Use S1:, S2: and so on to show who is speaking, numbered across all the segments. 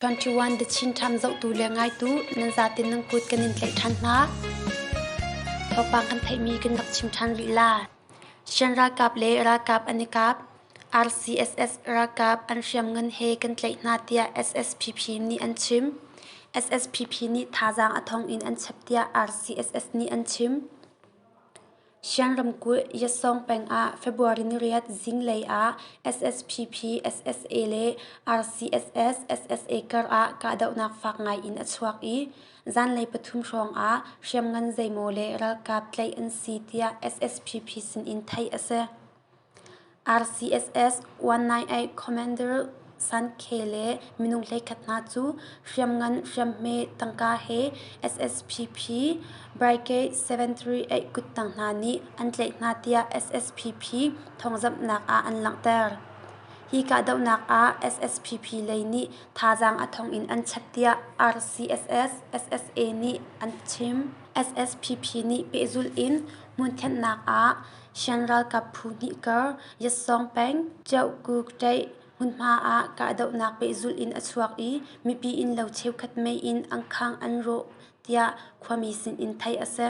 S1: 21 The Chin Time zohtu le ngaitu nan zatin nan kut kan in tlaih ṭhan hna. Thawngpang kan theihmi kan rak chim ṭhan rih la. Shan ralkap le ralkap an i kap. RCSS ralkap an hriam ngan he kan tlaih hna tiah SSPP nih an chim. SSPP nih thazaang a thong in an chep tiah RCSS nih an chim. Shan ramkulh Yassong peng ah February niriat zinglei ah SSPP, SSA le RCSS, SSA kar ah kahdohnak fak ngai in a chuak i zanlei pathum hrawng ah hriamngan zeimaw le ralkap tlaih an si tiah SSPP sin in theih a si. RCSS 198 Commander San Ke le minung hleikhat hna cu hriamngan hriamhme tangka he SSPP Brigade 738 kuttang hna nih an tlaih hna tiah SSPP thawngzamhnak ah an langhter. Hi kahdohnak ah SSPP lei nih thazaang a thawng in an chap tiah RCSS SSA nih an chim. SSPP nih pehzulh in hmunthenhnak ah Shan ralkap phu hnih kar Yatsawng peng Cheukuk Taih hmunhma ah kahdohnak pehzulh in a chuak i mipi innlo cheukhat mei in an khang an rawh tiah khuami sin in theih a si.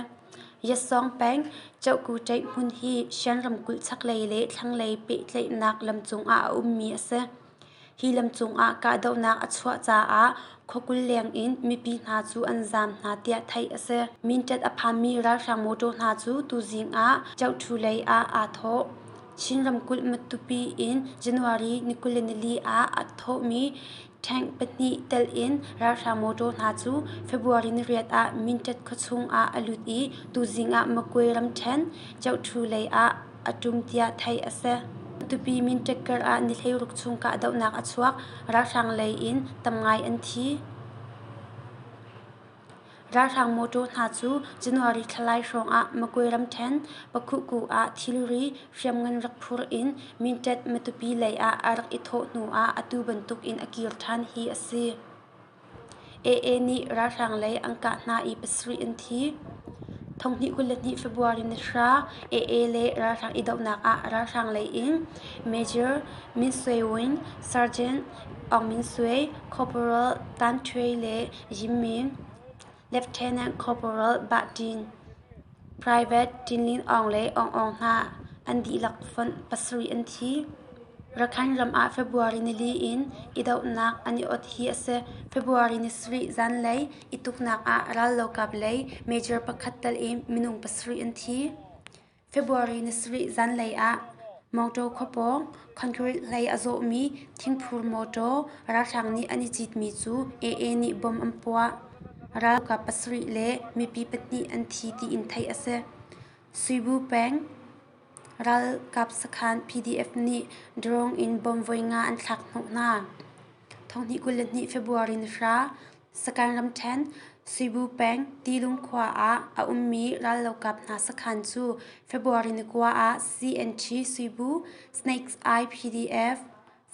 S1: Yatsawng peng Cheukuk Taih hmun hi Shan ramkulh chaklei le thlanglei pehtlaihnak lam cung ah a ummi a si. Hi lam cungah kahdohnak a chuah caah khuakul lengin mipi hna cu an zaam hna tiah theih a si. Mintat a phanmi ralhrang mawtaw hna cu tuzing ah Chauhthu lei ah aa thawh. Chin ramkulh Matupi in January ni kul le nili ah a thawhmi tank pahnih telh in ralhrang mawtaw hna cu February ni riat ah Mintat khuachung ah a lut i tuzing ah Makwe ramthen Chauhthu lei ah a ṭum tiah theih a si. Tupi minṭek karah ni hleiruk chung kahdohnak a chuak. Ralhrang lei in tam ngai an thi. Ralhrang mawṭaw hna cu January thla lai hrawngah Makwe ramṭhen Pakhuku ah thilri hriamngan rak phur in minṭet Matupi lei ah a rak i thawh hnuah atu bantuk in a kir ṭhan hi a si. AA nih ralhrang lei an kah hna i pasarih an thi. Thonghnih kul le hnih February ni hra AA le ralhrang idohnak ah ralhrang lei in Major Min Aung Hlaing, Sergeant Aung Min Aung, Corporal Tan Aung Hlaing le Yim Min Lieutenant Corporal Bah Tin, Private Tin Lin Aung le Aung Aung hna an dihlak fonh pasarih an thi. Rakhine ram ah February nili in idohnak an i ot hi a si. February ni sarih zanlei i tuknak ah rallokap lei major pakhat tal i minung pasarih an thi. February nisarih zanlei ah mawṭaw khua pawng concrete hlei a zawhmi thingphur mawṭaw ralhrang nih an i citmi cu AA nih bom an puah. Ralkap pasarih le mipi pahnih an thi tiin theih a si. Suibu peng ralkap sakhan PDF nih drone in bom voi nga an thlak hnawh hna. Thonghnih kul le hnih February ni hra Sakhan ramṭhen Cebu peng Tilung khua ah a ummi rallokap hna sakhan cu February ni kua ah CNG Cebu, Snakes Eye PDF,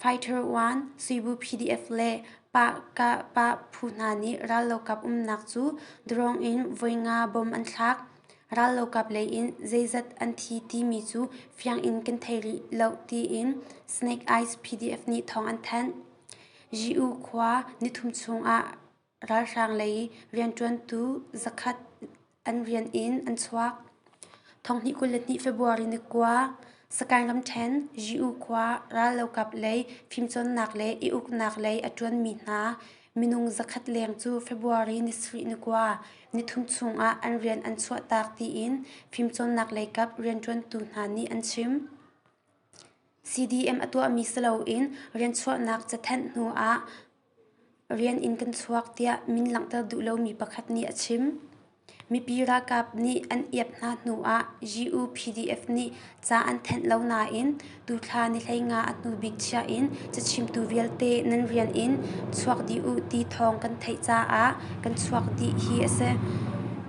S1: Fighter One Cebu PDF le Pah phu hna nih rallokap umnak cu drone in voi nga bom an thlak. Rallokap lei in zeizat an thi timi cu fiang in kan thei rih lo tiin Snake Eyes PDF nih thawng an thanh. Ji-u khua nithum chungah ralhrang lei rianṭuantu zakhat an rian in an chuak. Thonghnih kul le hnih February ni kua, Sakaing ramṭhen Ji-u khua rallokap lei fimcawnnak le i uknak lei a ṭuanmi hna minung zakhat leng cu February ni sarih ni kua, nithum chungah an rian an chuahtak tiin fimcawnnak lei kap rianṭuantu hna nih an chim. CDM a tuahmi si loin rianchuahnak cathenh hnuah rian in kan chuak tiah min langhter duh lomi pakhat nih a chim. Mipi ralkap nih an iap hna hnuah GU-PDF nih ca an thenh lo nain tuthla nihlei nga a hnu bik chia in cachimtu vialte nan rian in chuak dih u ti thawng kan theih caah kan chuak dih hi a si.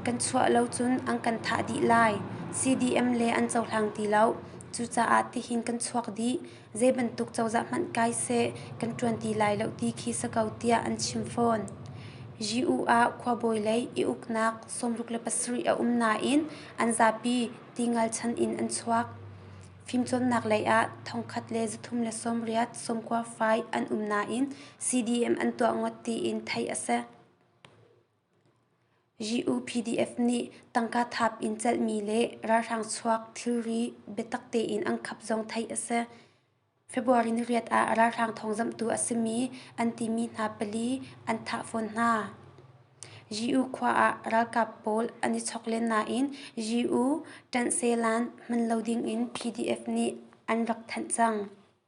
S1: Kan chuah lo cun an kan thah dih lai. CDM le an cohlang ti lo. Cucaah tihin kan chuak dih. Zeibantuk cozah hmanh kai seh kan ṭuan ti lai lo ti khi si ko tiah an chim fawn. Ji-u ah khuabawi lei i uknak sawmruk le pasarih a um nain an zapi tingal chan in an chuak. Fimcawnnak lei ah thongkhat le zathum le sawmriat sawmkua fai an um nain CDM an tuah ngawt tiin theih a si. GUPDF nih tangka thap in celhmi le ralhrang chuak thilri biatak tein an khap zong theih a si. February ni riat ah ralhrang thawngzamhtu a simi an timi hna pali an thah fawn hna. GU khua ah ralkap pawl an i chok len nain GU ṭanh selan hman lo dingin PDF nih an rak thanh cang.